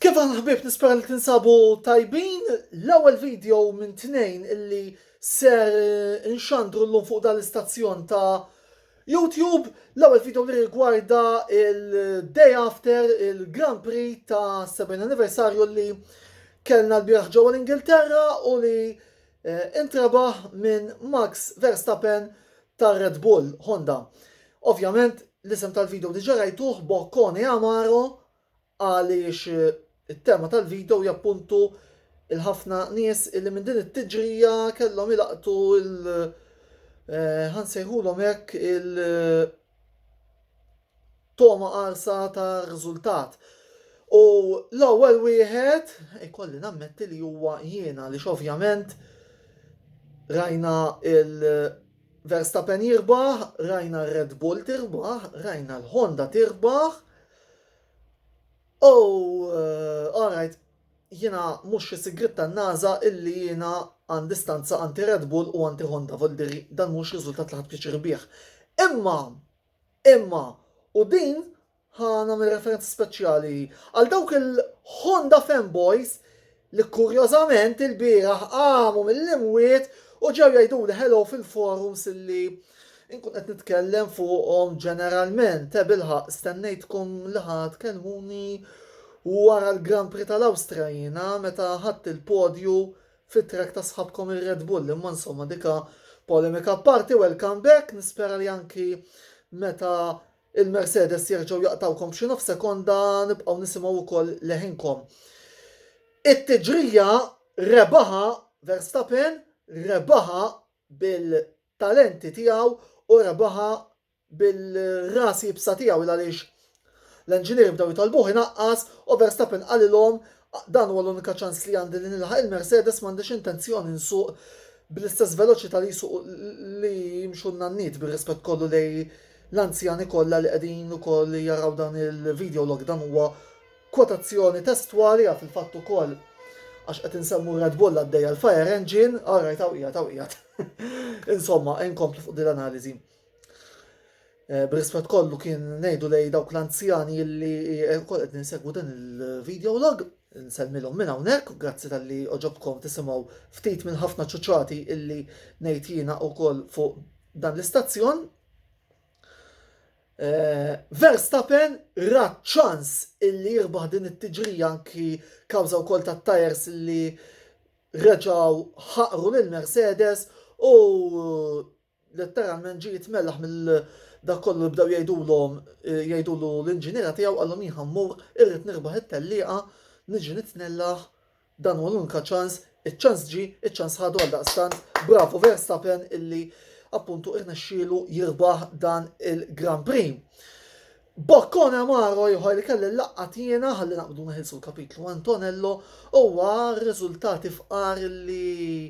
Kif għal ħbib nispera li tinsabu tajbin l-ewwel video minn tnejn illi ser eh, inxandru llum fuq dal-istazzjon ta' YouTube, l-ewwel video li rigwarda il-day after il-Grand Prix ta' 70 anniversarju li kellna l-biraħ ġewwa l-Ingilterra u li eh, intrabaħ minn Max Verstappen tar-Red Bull Honda. Ovvjament l-isem tal-video diġà rajtuh Boccone Amaro għaliex it-tema tal-video hija appuntu il-ħafna nies illi minn din it-tiġrija kellhom ilaqtu il- eh, ħansejħulhom hekk il- togħma qarsa ta' riżultat. U l-ewwel wieħed ikolli nammetti li huwa jiena li x'ovvjament rajna il Verstappen jirbaħ, rajna r-Red Bull tirbaħ, rajna l-Honda tirbaħ. U uh, alright, jiena mhux xi sigrit tan-NASA illi jiena għandi stanza anti Red Bull u anti Honda, voldir dan mhux riżultat li ħadd pjaċir bih. Imma Imma, u din ħa nagħmel referenza speċjali għal dawk il-Honda fanboys li kurjożament ilbieraħ qamu mill-imwiet u ġew jgħiduli hello fil-forums illi nkun qed nitkellem fuqhom ġeneralment, eh bilħaqq stennejtkom li ħa tkellmuni wara l-Grand Prix tal-Awstrija jiena meta ħadt il-podju fit-track ta' sħabkom ir-Red Bull imma insomma dik ha polemika apparti welcome back nispera li anki meta il-Mercedes jerġgħu jaqtgħukom b'xi nofs sekonda nibqgħu nisimgħu wkoll leħinkom. It-tiġrija rebaħa Verstappen rebaħa bil-talenti tiegħu u rebaħa bil-ras iebsa tiegħu il għaliex l-enġinieri bdew jitolbuh inaqqas u Verstappen qalilhom dan huwa l-unika ċans li għandi li nilħaq il-Mercedes m'għandix intenzjoni nsuq bl-istess veloċità li jsuqu li jimxu n-nanniet bir-rispett kollu lejn l-anzjani kollha li qegħdin ukoll jaraw dan il-videolog dan huwa kwotazzjoni testwali għal fil-fatt ukoll għax qed insemmu r-Red Bull għaddejja l-fire engine, all right hawn qiegħed hawn qiegħed. Insomma, inkomplu fuq din l-analiżi. Eh, Brisfet kollu kien nejdu lej dawk l-anzjani li eh, kol qed ninsegwu dan il-video log, nselmilhom minn hawnhekk, grazzi tal-li oġobkom tisimgħu ftit minn ħafna ċuċati illi ngħid jiena wkoll fuq dan l-istazzjon. Eh, Verstappen rat ċans illi jirbaħ din it-tiġrija anki kawża wkoll tat-tajers illi reġaw ħaqru lil Mercedes u Letteralment ġie jitmellaħ mill dak kollu li bdew jgħidulhom jgħidulu l-inġiniera tiegħu qalhom jien ħammur irrid nirbaħ it-tellieqa niġi nitnellaħ dan huwa l-unika ċans iċ-ċans ġie iċ-ċans ħadu għaldaqstant bravu Verstappen illi appuntu irnexxielu jirbaħ dan il-Grand Prix. Bokkone amaro ieħor li kelli l-laqqa tiena ħalli naqbdu neħilsu l-kapitlu Antonello huwa r-riżultati fqar li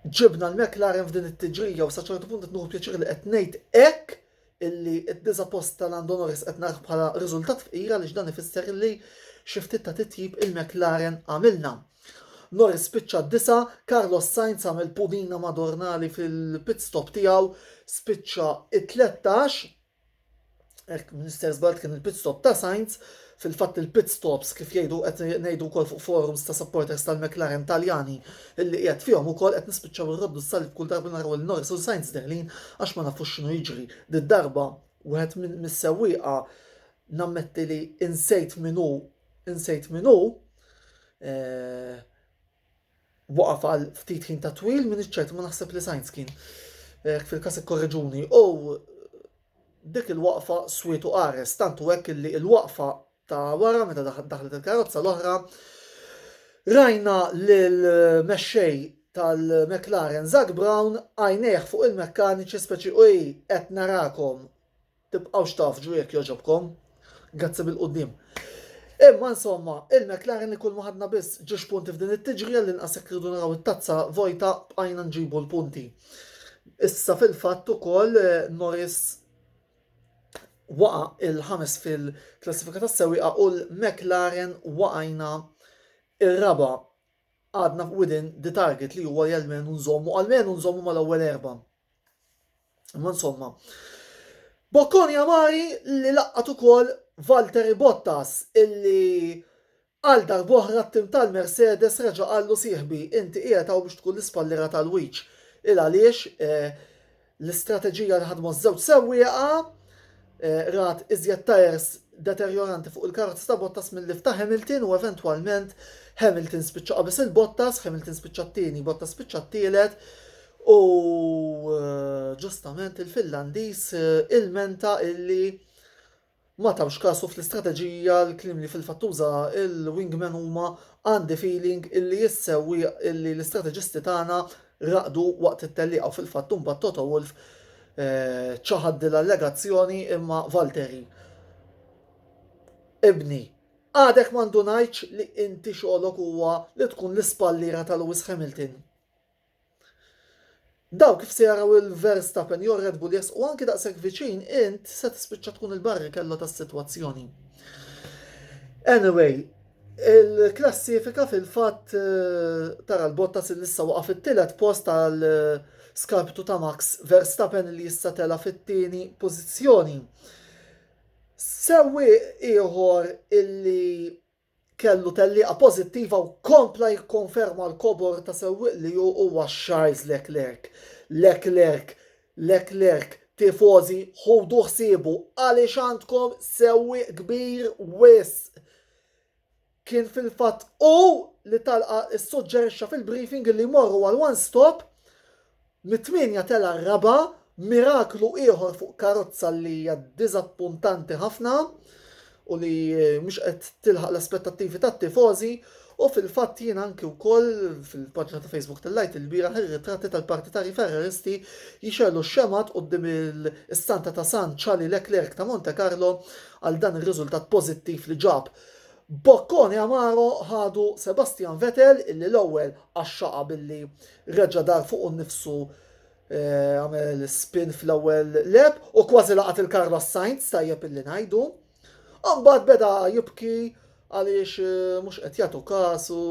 Ġibna l-McLaren f'din it-tiġrija u sa ċertu punt qed nieħu pjaċir li qed ngħid hekk illi d-disa' post ta' Lando Norris qed narah bħala riżultat fqir għaliex dan ifisser li xi ftit ta' titjib il-McLaren għamilna. Norris spiċċa d-disa', Carlos Sainz għamel pudina Madornali fil-pit stop tiegħu spiċċa t-tlettax. Hekk mill-istess band kien il-pit stop ta' Sainz, fil-fatt il-pit stops kif jgħidu qed ngħidu wkoll fuq forums ta' supporters tal-McLaren Taljani illi qiegħed fihom ukoll qed nispiċċaw irroddu s-salib kull darba naraw lil Norris u Sainz deħlin għax ma nafux x'inhu jiġri. Did-darba wieħed mis-sewwieqa nammetti li insejt min hu insejt min hu, eh, waqaf għal ftit ħin ta' twil, minix ċert ma naħseb li Sainz kien hekk fil-każ ikkorreġuni, u dik il-waqfa swiet u qares, tant u hekk illi l-waqfa ta' wara meta daħlet il-karozza l-oħra rajna lill-mexxej tal-McLaren Zak Brown għajnejh fuq il-mekkaniċi speċi ej qed narakom Tibqgħux tafġu jekk jogħġobkom. Grazzi bil-quddiem. Imma insomma, il-McLaren li kull ma ħadna biss ġiex punti f'din it-tiġrija li nqas jekk rridu naraw it-tazza vojta bqajna nġibu l-punti. Issa fil-fatt ukoll eh, Norris waqa il-ħames fil-klassifika tas sewiqa u l-McLaren waqajna ir-raba għadna within the target li huwa li għalmenu nżommu għalmenu nżommu mal-ewwel erba. Ma insomma. Bocconi Amari li laqqat ukoll Valtteri Bottas illi għal darb'oħra t-tim tal-Mercedes reġa' qallu sieħbi inti qiegħed hawn biex tkun l-ispalliera tal-wiċċ. Il għaliex l-istrateġija li ħadmu ż-żewġ sewwieqa rat iżjed tajers deterjoranti fuq il-karozza ta' Bottas milli f'ta' Hamilton u eventwalment Hamilton spiċċa qabeż lil Bottas, Hamilton spiċċa t-tieni, Bottas spiċċa t-tielet u ġustament il-Finlandiż ilmenta illi ma tawx kasu fl-istrateġija l-kliem li fil-fatt uża il-wingman huma għandi feeling illi s-sewwieq illi l-istrateġisti tagħna raqdu waqt it-tellieqa u fil-fatt imbagħad Toto Wolff ċaħad din l-allegazzjoni imma Valteri. Ibni, għadek ma ndunajtx li inti xogħlok huwa li tkun l-ispalliera ta' Lewis Hamilton. Daw kif se jaraw il-Verstappen jew Red Bull jesqu anki daqshekk viċin int se tispiċċa tkun il-barri kello tas-sitwazzjoni. Anyway, Il-klassifika fil-fatt tara l-Bottas li issa waqa' fit-tielet post għal skarptu ta' Max Verstappen li issa tela' fit-tieni pożizzjoni. Sewwi ieħor illi kellu tellieqa pożittiva u kompla jikkonferma l-kobor ta' sewwieq li hu huwa Charles Leclerc. Leclerc Leclerc, Tifożi, ħudu ħsiebu għaliex għandkom sewwieq kbir wisq. Kien fil-fatt hu li Talqa ssuġġerixxa fil-briefing li jmorru għal one stop, mit-tmienja tela' r-raba', miraklu ieħor fuq karozza li hija diżappuntanti ħafna. u li mhux qed tilħaq l-aspettattivi tat-tifożi u fil-fatt jien anki wkoll fil-paġna ta' Facebook tellajt il-bieraħ ir-ritratti tal-partitarji Ferraristi jixerlu x-xemgħat quddiem il-istanta ta' San Charlie Leclerc ta' Monte Carlo għal dan ir-riżultat pożittiv li ġab. Bocconi amaro ħadu Sebastian Vettel illi l-ewwel qaxxaqa billi reġa' dar fuqu nnifsu għamel spin fl-ewwel leb u kważi laqat il-Carlos Sainz tajjeb illi ngħidu. Mbagħad beda jibki għaliex eh, mhux qed jagħtu każ u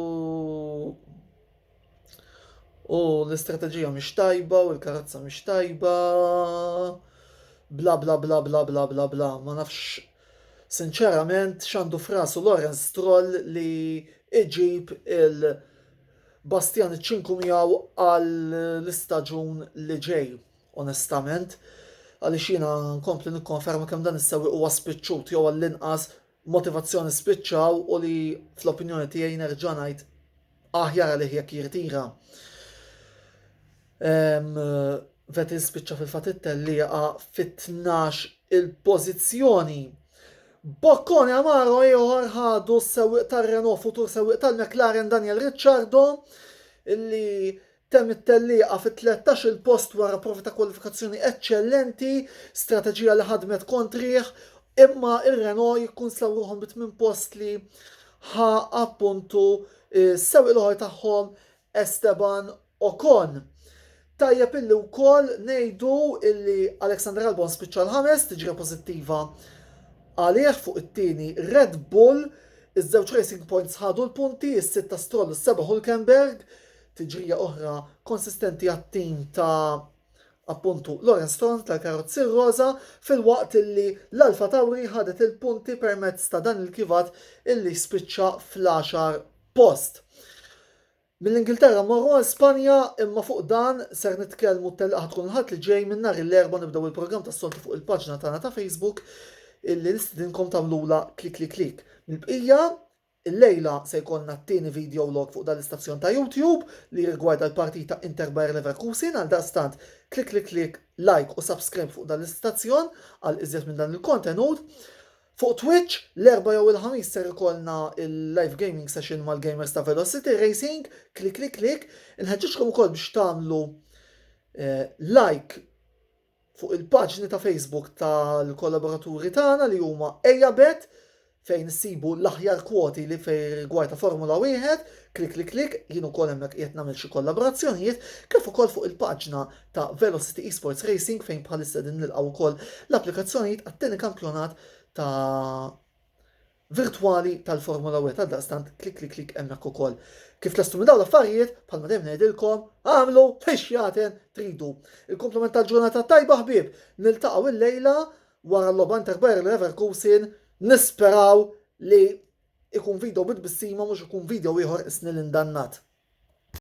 u l-istrateġija mhix tajba u l-karazza mhix tajba bla bla bla bla bla bla bla ma nafx sinċerament x'għandu frasu Lorenz Stroll li iġib il- Bastian iċ-ċinku miegħu għall-istaġun li ġej, onestament, għaliex jiena nkompli nikkonferma kemm dan is-sewwieq huwa spiċċut jew għall-inqas motivazzjoni spiċċaw u li fl-opinjoni tiegħi nerġa' ngħid aħjar għalih jekk jirtira. Vettel spiċċa fil-fatt it-tellieqa fit-tnax il-pożizzjoni. Boccone Amaro ieħor ħadu s-sewwieq tar-Renault futur sewwieq tal-McLaren Daniel Ricciardo illi temm it-tellieqa fit-13 il-post wara provi ta' kwalifikazzjoni eċċellenti, strateġija li ħadmet kontrih, imma ir-Renault jkun slawruhom bit minn post li ħa appuntu s-sewwieq l-oħor tagħhom Esteban Ocon. Tajjeb illi wkoll ngħidu illi Alexander Albon spiċċa l-ħames, tiġrija pożittiva għalih fuq it-tieni Red Bull. Iż-żewġ Racing Points ħadu l-punti, is-sitt ta' Stroll u s-seba' Hulkenberg. Tiġrija oħra konsistenti għat-tim ta' appuntu Lawrence Stroll tal-karozzi roża, filwaqt illi l-Alpha Tauri ħadet il-punti permezz ta' dan il-kivat illi spiċċa fl-għaxar post. Mill-Ingilterra mmorru għal Spanja imma fuq dan ser nitkellmu t-telqa ħatkun l-Ħadd li ġej minn nhar l-Erbgħa nibdew il-programm tas-soltu fuq il-paġna tagħna ta' Facebook illi nistidinkom tagħmlulha klikliklik. Mill-bqija, illejla se jkollna t-tieni video log fuq dan l-istazzjon ta' YouTube li jirrigwarda l-partita Inter Bayer Leverkusen għaldaqstant klikliklik, like u subscribe fuq dan l-istazzjon għal iżjed minn dan il-kontenut. Fuq Twitch, l-Erbgħa jew il-Ħamis ser ikollna l-live gaming session mal-gamers ta' Velocity Racing, clicklicklick. Inħeġġiġkom ukoll biex tagħmlu like fuq il-paġni ta' Facebook tal-kollaboraturi tagħna li huma Ejabet fejn issibu l-aħjar kwoti li fejn rigward ta' Formula Wieħed, clicklicklick, jien ukoll hemmhekk qiegħed nagħmel xi kollaborazzjonijiet, kif ukoll fuq il-paġna ta' Velocity Esports Racing fejn bħalissa din nilqgħu wkoll l-applikazzjonijiet għat-tieni kampjonat ta' virtwali tal-Formula 1 e. għal daqstant klik klik klik hemmhekk ukoll. Kif lestu minn dawn l-affarijiet, bħalma dejjem ngħidilkom, għamlu fiex jaten tridu. Il-komplement tal-ġurnata tajba ħbieb, niltaqgħu il-lejla wara l-logħba Inter Bayer Leverkusen, nisperaw li ikun video bit bissima mhux ikun video ieħor isni l-indannat.